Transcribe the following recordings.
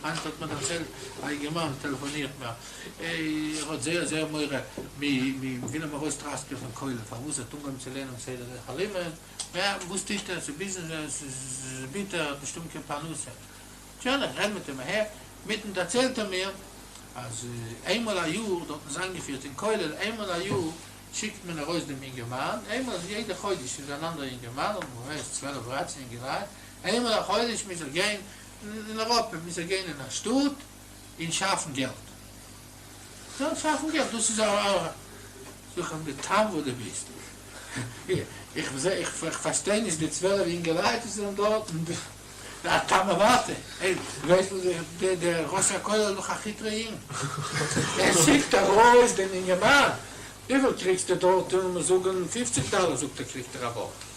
היינט האט מיר דערציילט א יונגערמאן טעלעפאנירט מיר ער האט זייער זייער מורא מ'וויל אים ארויס טראסקען פון כולל פארוואס ער האט אנגעהויבן צו לערנען מסדר דרך הלימוד, יא וואס טוט ער ס'איז ביזנעס ס'איז ביטער ער האט נישט אויבן קיין פרנסה, שוין איך רעד מיט אים אהער מיטן דערציילט ער מיר אז איינמאל א יאר דארטן איז איינגעפירט אין כולל איינמאל א יאר שיקט מען ארויס דעם יונגערמאן איינמאל א יעדע חודש איז אן אנדערע יונגערמאן און מ'ווייסט צוועלף דרייצן יונגעלייט איינמאל א חודש מוז ער גיין אין אייראפע מוז ער גיין אין א שטאט און שאפן געלט, דארט שאפן געלט, דאס איז א. זאג אים די טעם וואס דו ביסט. איך זעה איך פארשטיי נישט די צוועלף אינגעלייט וואס זענען דארט און די א טעם אוואטע, ווייסט וואס דער ראש הכולל איז דאך א כיטרע יונג, ער שיקט ארויס דעם אינגערמאן, וויפיל קריגסטו דארט און מ'זאגן פופציג דאלער זאגט ער קריגט ער א ווארט.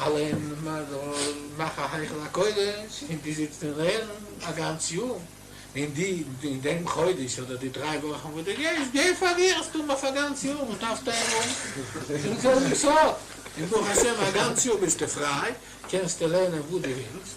אלע מאכן א היכל הקודש און די זיצט און לערן א גאנץ יאר, און די אין דעם חודש אדער די דריי וואכן וואס די גייסט גיי פארלירסטו אויף א גאנץ יאר און טאפסט ארום דעם זעלבן סוד, און ברוך השם א גאנץ יאר ביסטו פריי קענסטו לערנען וואס די ווילסט.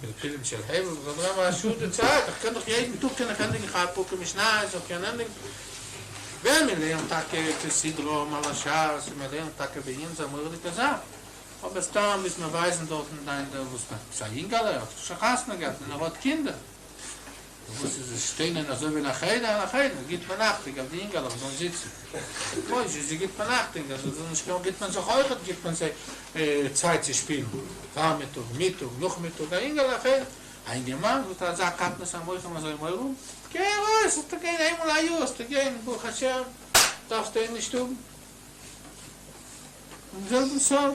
פלפולים של הבל וזאת רבה השעה די צייט איך קען דאך יעדן טאג קען איך ענדיגן כמה פרקים משניות איך קען ענדיגן ווען מען לערנט טאקע כסדרא מלא שס און מען לערנט טאקע בעיון איז א מוראדיגע זאך אבער סתם ביסט מ'ווייזן דארטן דיין דער וואס ביסט א יונגעלע האסט שוין חתונה געהאט און ער האט קינדער. וואס איז עס שטיינען אזוי ווי נאך איינער נאך איינער גיט מען אכטונג אז די אינגעלעך זאלן זיצן מויזשי זי גיט מען אכטונג אז זיי זאלן נישט קומען גיט מען זיך אויכעט גיט מען זיי צייט צו שפילן פארמיטאג מיטאג נאכמיטאג א אינגעלע א אינגערמאן וואס האט אזא קטנות המוחין אזוי מורא גיי ארויס האסטו גיין איינמאל א יאר האסטו גיין ברוך השם דארפסטו אים נישט האבן און זעלבן סארט.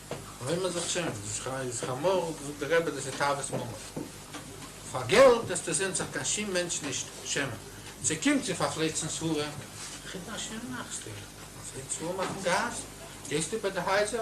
חומר זאגט שוין, איז איז חמור, זאגט די רבי דאס איז תאוות ממון, פאר געלט וועסטו זען זיך קיין שום מענטש נישט שעמען, ס'קומט צו פארפלייצן ספרים, חידושים מאכסטו, מפלצת ספרים אויפן גאס, גייסטו ביי די הייזער.